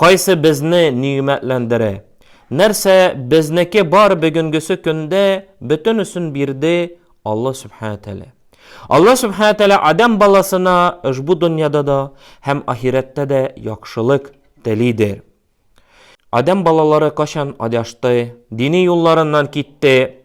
Кайсы безне нигъмәтләндерә? Нәрсә безнеке бар бөгенгесе көндә бөтенесен бирде Алла Сүбхәнә Тәгалә. Алла Сүбхәнә Тәгалә адәм баласына ошбу дөньяда да һәм ахирәттә дә яхшылык телидер. Адәм балалары кайчан адашты, дини юлларыннан китте?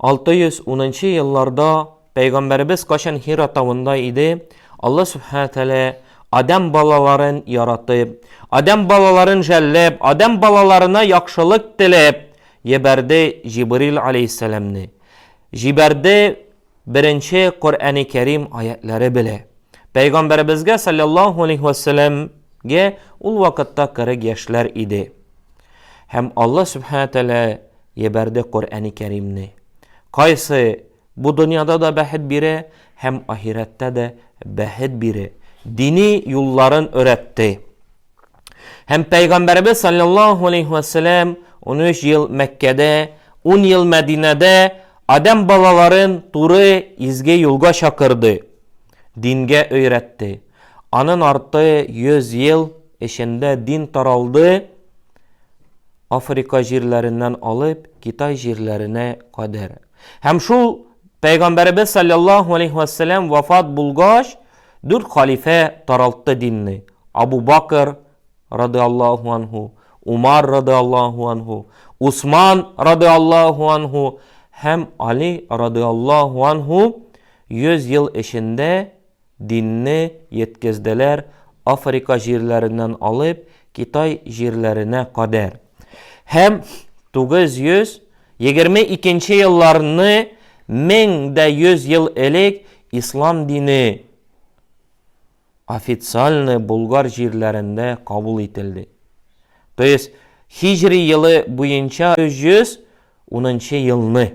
610 нчы елларда Пәйгамбәребез кайчан Хира тавында иде, Алла Сүбхәнә Тәгалә Адәм балаларын яратып, Адәм балаларын жәлләп, Адәм балаларына яхшылык теләп, җибәрде Җибрил алейһиссәламне. Җибәрде беренче Коръәни Кәрим аятьләре белә. Пәйгамбәребезгә салләллаһу алейһи вә сәлләмгә ул вакытта 40 яшьләр иде. Һәм Алла Сүбхәнә Тәлә ебәрде Коръәни Кәримне. Кайсы бу дөньяда да бәхет бирә һәм ахирәттә дә бәхет бирә. Дини юлларын өйрәтте. Һәм Пәйгамбәребез саллаллаху алейхи ва саллям 13 ел Мәккәдә, 10 ел Мәдинәдә адәм балаларын туры изге юлга чакырды, дингә өйрәтте. Анын арты 100 ел эчендә дин таралды, Африка җирләреннән алып Китай җирләренә кадәр. Һәм шул Пәйгамбәребез салләллаһу алейһи вә сәлләм вафат булгач, дүрт халифә таралтты динне, Абу Бакр, рады Аллаһу анһу, Умар, рады Аллаһу анһу, Усман, рады Аллаһу анһу, һәм Али, рады Аллаһу анһу, 100 ел эчендә Динне йеткезделәр Африка җирләреннән алып Китай җирләренә кадәр. Һәм 922 нче елларны, 1100 ел элек, ислам дине официальны Болгар җирләрендә кабул ителде. То есть, һиҗри елы буенча 310 нчы елны.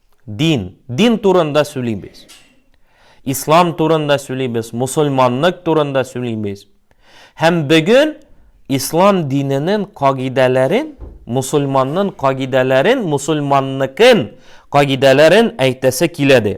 Дин. Дин турында сөйлибез. Ислам турында сөйлибез, мусульманлык турында сөйлибез. Һәм бүген ислам диненең кагыйдәләрен, мусульманның кагыйдәләрен, мусульманныкын кагыйдәләрен әйтәсе киләде.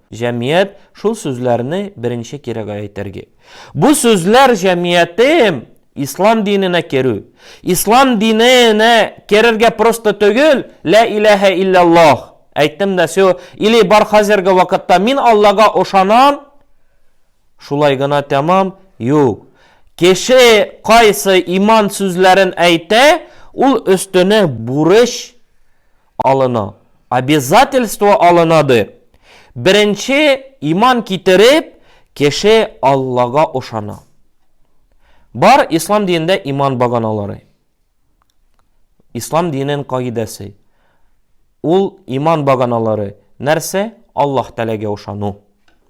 Җәмият шул сүзләрне беренче кирәгә әйтергә. Бу сүзләр җәмиятем ислам диненә керү. Ислам диненә керергә просто түгел, лә иләһә илляллаһ әйттем дә сё, или бар хәзерге вакытта мин Аллага ошанам, шулай гына тәмам, юк. Кеше кайсы иман сүзләрен әйтә, ул өстенә бурыч алына. Обязательство алына ды. Беренче иман китереп, кеше Аллага ошана. Бар ислам динендә иман баганалары. Ислам динен кагыйдәсе. Ул иман баганалары нәрсә? Аллаһ Тәгаләгә ошану.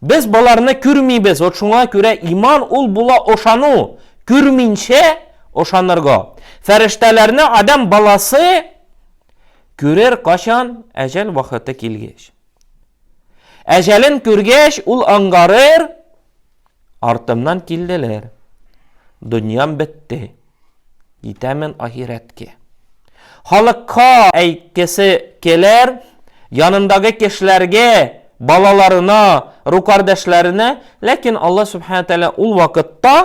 Без боларны күрмибез, вот шуңа күрә иман ул була ошану, күрминчә ошанырга. Фәрештәләрне адам баласы күрер качан әҗәл вакыты килгәч. Әҗәлен күргәч, ул аңгарыр, Артымнан килделәр. Дөньям бетте. Китәмен ахирәткә. Халыкка әйткесе келәр, янындагы кешеләргә, балаларына, рукардәшләренә, ләкин Алла Сүбхәнә Тәгалә ул вакытта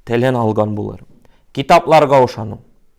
телен алган булыр. Китапларга ышану.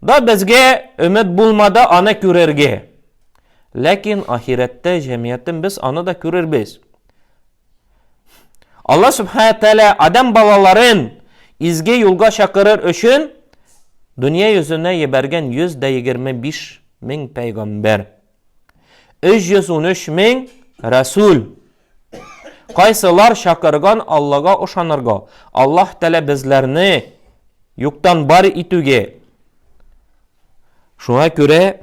Да безгә өмет булмады аны күрергә. Ләкин ахирәттә җәмиятен без аны да күрербез. Алла Субхаһу Тәала адам балаларын изге юлга чакырыр өчен дөнья йөзенә ебәргән 125 мең пәйгамбәр. 313 мең рәсүл. Кайсылар чакырган Аллага ышанырга? Аллаһ Тәлә безләрне юктан бар итүгә. Шуңа күрә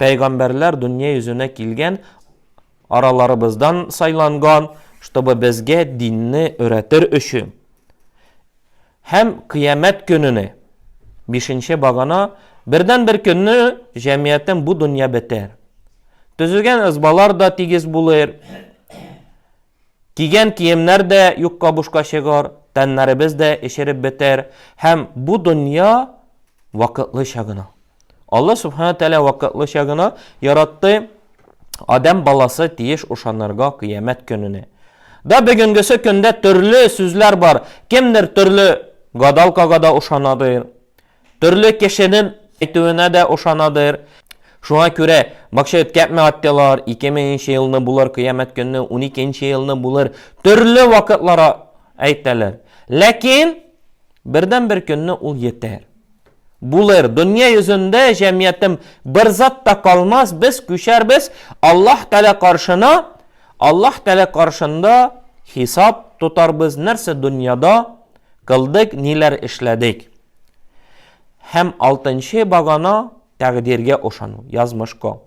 пәйгамбәрләр дөнья йөзенә килгән, араларыбыздан сайланган, чтобы безгә динне өйрәтер өчен. Һәм Кыямәт көнене, бишенче багана, бердәнбер көнне җәмгыятем бу дөнья бетәр. Төзегән ызбалар да тигез булыр, кигән киемнәр дә юкка бушка чыгар, тәннәребез дә эчереп бетәр, һәм бу дөнья вакытлыча гына. Алла Субхана Тәлә вакытлыча гына яратты Адәм баласы тиеш ушанырга кыямәт көненә. Да бүгенгесе көндә төрле сүзләр бар. Кемдер төрле гадалкага да ушанадыр. Төрле кешенең әйтүенә дә ушанадыр. Шуңа күрә бакча үткәртмә аттылар, 2000 нче елны булыр, кыямәт көнне 12 нче елны булыр. Төрле вакытлар әйтәләр. Ләкин бердән-бер көнне ул йетәр. Булыр, дөнья йөзендә, җәмиятем, бер зат та калмас, без күчәрбез Аллаһ Тәгалә каршына, Аллаһ Тәгалә каршында хисап тотарбыз, нәрсә дөньяда кылдык, ниләр эшләдек. Һәм алтынчы багана, Тәкъдиргә ышану, язмышка.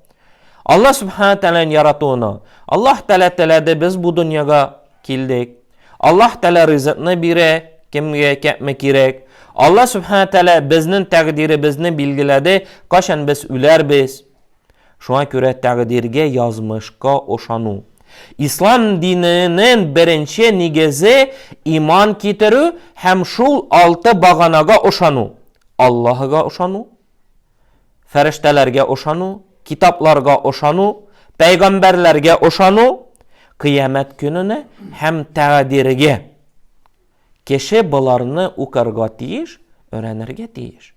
Алла Субхана Тәләнең яратуына. Аллаһ Тәлә теләде, без бу дөньяга килдек. Аллаһ Тәлә ризыкны бирә, кемгә кәпме кирәк. Алла Субхана Тәлә безнең тәкъдиребезне билгеләде, кайчан без үләрбез. Шуңа күрә тәкъдиргә, язмышка ышану. Ислам диненең беренче нигезе иман китерү һәм шул алты баганага ышану. Аллаһыга ышану, Фәрештәләргә ышану, китапларга ышану, пәйгамбәрләргә ышану, кыямәт көненә һәм тәгъдиргә. Кеше боларны укырга тиеш, өйрәнергә тиеш.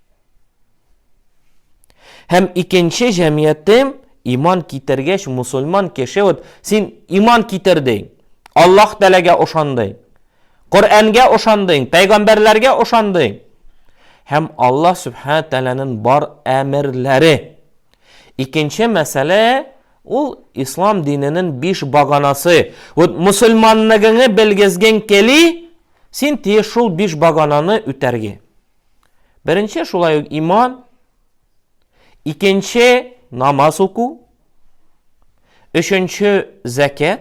Һәм икенче җәмгыятем иман китергәч мусульман кеше вот син иман китердең, Аллаһ Тәгаләгә ышандың. Коръәнгә ошандың, пәйгамбәрләргә ошандың. Һәм Аллаһ Сүбхәнә Тәгаләнең бар әмерләре. Икенче мәсьәлә ул ислам диненең биш баганасы. Вот мусульманлыгыңны белгезгең кели, син тиеш шул биш багананы үтәргә. Беренче шулай ук иман, икенче намаз уку, өченче зәкят,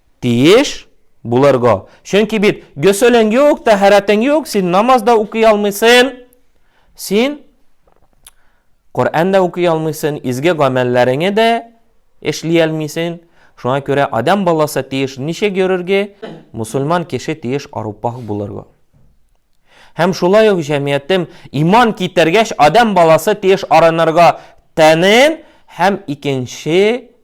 Тиеш булырга. Чөнки бит гөселең юк, тәһарәтең юк, син намаз да укый алмыйсын. Син Коръән дә укый алмыйсын, изге гамәлләреңе дә эшли алмыйсын. Шуңа күрә адам баласы тиеш ничек йөрергә? Мусульман кеше тиеш арупах булырга. Һәм шулай ук җәмиятем иман китергәч, адам баласы тиеш арынырга тәнен һәм икенче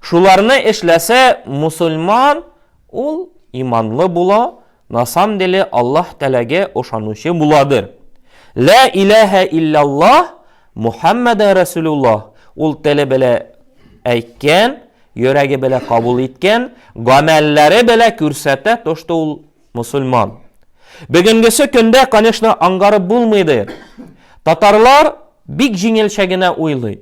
Шуларны эшләсә, мусульман ул иманлы була, на самом деле Аллаһ Тәгаләгә ошанучы буладыр. Лә иләһә илляллаһ Мухаммәдә Рәсүлуллаһ ул теле белә әйткән, йөрәге белә кабул иткән, гамәлләре белә күрсәтә тошты ул мусульман. Бөгенгесе көндә, конечно, аңгарып булмыйдыр. Татарлар бик җиңелчә генә уйлый.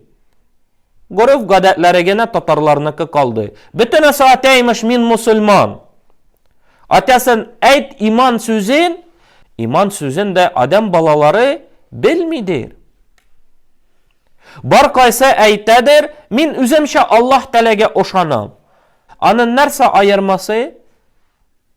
Гореф гадәтләре генә татарларныкы калды. Бөтенесе атә имеш мин мусульман. Атясын әйт иман сүзен, иман сүзен дә адәм балалары белмидер. Бар кайсы әйтәдер, мин үземчә Аллаһ тәләгә ошанам. Анын нәрсә аермасы?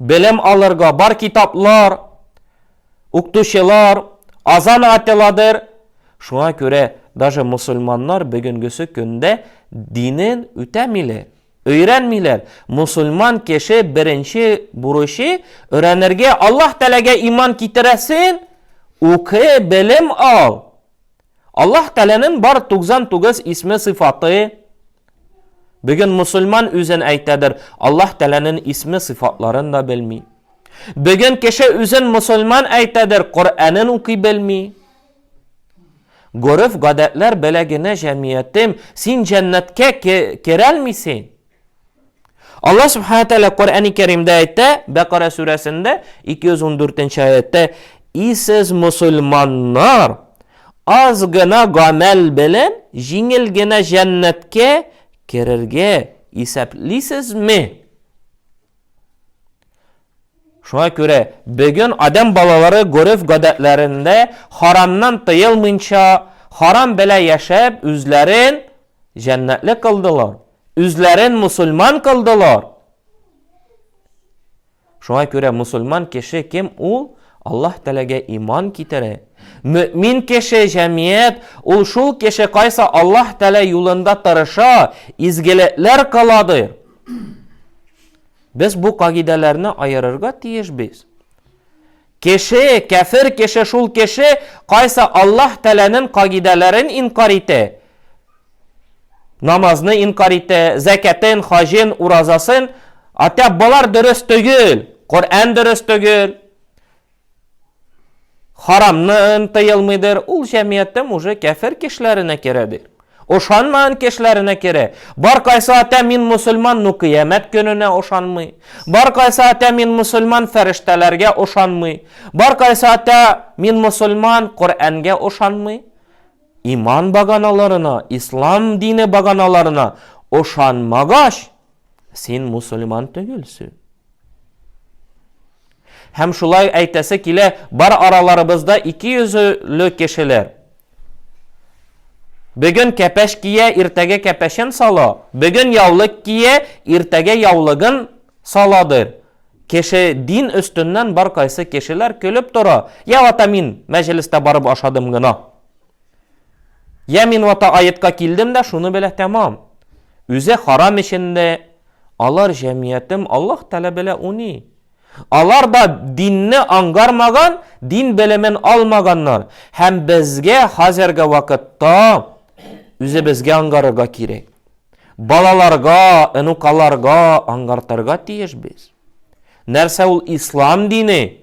Белем алырга бар китаплар, укытучылар, азан ателадыр. Шуңа күрә даже мосульманнар бөгенгесе көндә динен үтәмиләр, өйрәнмиләр. Мосульман кеше беренче бурычы өйрәнергә Аллаһ Тәләгә иман китерәсен, укы, белем ал. Аллаһ Тәләнен бар 99 исме сыйфаты Бүген мусульман үзен әйтәдер, Аллаһ Тәләнен исме сыйфатларын да белми. Бүген кеше үзен мусульман әйтәдер, Коръәнен укый белми. Гореф гадәтләр беләгенә җәмиятем, син җәннәткә керәлмисең. Аллаһ Субхаһу Тәгалә Коръәни Кәримдә әйтә, Бәкара сүрәсендә 214 аятта, "Исез мусульманнар аз гына гамәл белән җиңел генә җәннәткә керергә исәплисезме?" Шуңа күрә бүген адам балалары гореф гадәтләрендә харамнан тыелмыйча, харам белән яшәп, үзләрен җәннәтле кылдылар. үзләрен мусульман кылдылар. Шуңа күрә мусульман кеше кем ул? Аллаһ Тәләгә иман китерә. Мөмин кеше, җәмият, ул шул кеше кайсы Аллаһ Тәлә юлында тырыша, изгелекләр кылады. Без бу кагыйдәләрне аерырга тиеш без. Кеше, кяфер кеше шул кеше, кайсы Аллаһ Тәләнен кагыйдәләрен инкар ите, намазны инкар ите, зәкятен, хаҗын, уразасын, атә болар дөрес төгел, Коръән дөрес төгел, харамнын тыелмыйдыр, ул җәмгыятем уже кяфер кешеләренә керәдер. Ошанмаган кешеләренә керә. Бар кайсы ата мин мөселман, ну кыямәт көненә ошанмый. Бар кайсы ата мин мөселман, фәрештәләргә ошанмый. Бар кайсы ата мин мөселман, Коръәнгә ошанмый. Иман баганаларына, ислам дине баганаларына ошанмагач, Син мусульман түгелсү. Һәм шулай әйтәсе килә, бар араларыбызда ике йөзле кешеләр. Бүген кәпәш кия, иртәгә кәпәшен сала. Бүген яулык кия, иртәгә яулыгын саладыр. Кеше дин өстеннән бар кайсы кешеләр көлеп тора. Я вата мин мәҗлестә барып ашадым гына. Я мин вата аетка килдем дә шуны белә тәмам. Үзе харам эчендә алар җәмиятем Аллаһ Тәгалә белә уни. Алар да динне аңгармаган, дин белемен алмаганнар һәм безгә хәзерге вакытта үзебезгә аңгарырга кирәк. Балаларга, энукаларга аңгартырга тиеш без. Нәрсә ул ислам дине?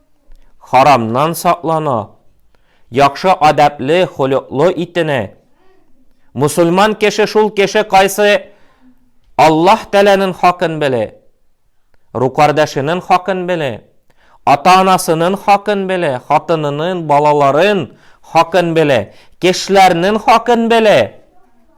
Харамнан саклана, яхшы адәпле, холыклы итенә. Мусульман кеше шул кеше кайсы Аллаһ Тәләнен хакын беле, рукардәшенен хакын беле, ата-анасынын хакын беле, хатынынын, балаларын хакын беле, кешеләрнен хакын беле.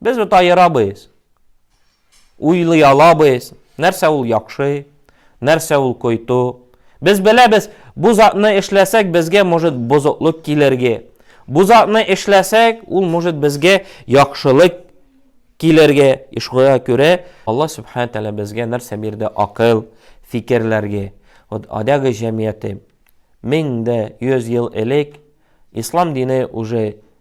Без бит аерабыз, уйлый алабыз, нәрсә ул яхшы, нәрсә ул койту. Без беләбез, бу затны эшләсәк, безгә может бозыклык килергә. Бу затны эшләсәк, ул может безгә яхшылык килергә. И шуңа күрә Алла Субхану Тәгалә безгә нәрсә бирде? Акыл, фикерләргә. Вот адәге җәмгыяте 1100 ел элек ислам дине уже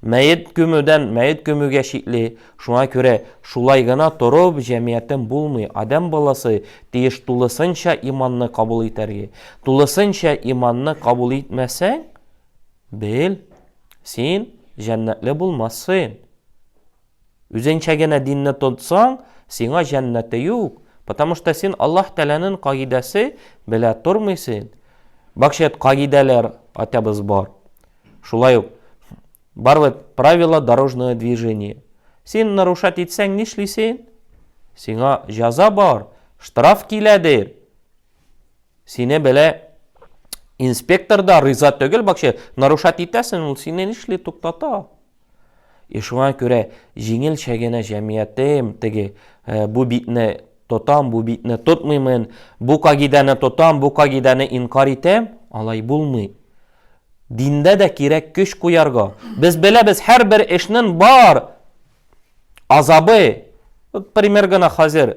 Мәет көмүдән мәет көмүгә чикле. Шуңа күрә шулай гына торып җәмиятен булмый. Адәм баласы тиеш тулысынча иманны кабул итәргә. Тулысынча иманны кабул итмәсәң, бел, син җәннәтле булмассың. Үзенчә генә динне тотсаң, сиңа җәннәте юк. Потому что син Аллаһ Тәгаләнең кагыйдәсе белә тормыйсың. Бакча кагыйдәләр атабыз бар. Шулай ук барлык правила дорожного движения. Син нарушать итсәң нишлисең? Сиңа җаза бар, штраф килә дир. Сине белә инспектор да риза түгел, бакчы нарушать итәсең, ул сине нишли туктата? И шуңа күрә җиңел чәгенә җәмиятем, теге, э, бу битне тотам, бу битне тотмыймын, бу кагидәне тотам, бу кагидәне инкар итәм, алай булмый. Диндә дә кирәк көч куярга. Без беләбез, һәрбер эшнең бар азабы. Вот пример гына хәзер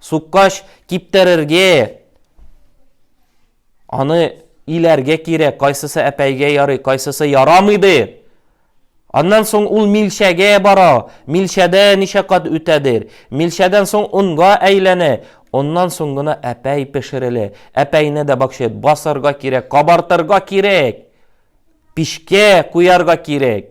Суккач, киптерергә, аны иләргә кирәк, кайсысы әпәйгә ярый, кайсысы ярамый ди. Аннан соң ул милчәгә бара, милчәдә ничә кат үтәдер. Милчәдән соң онга әйләнә, оннан соң гына әпәй пешерелә. Әпәйне дә бакчет басарга кирәк, кабартырга кирәк, пишкә куярга кирәк.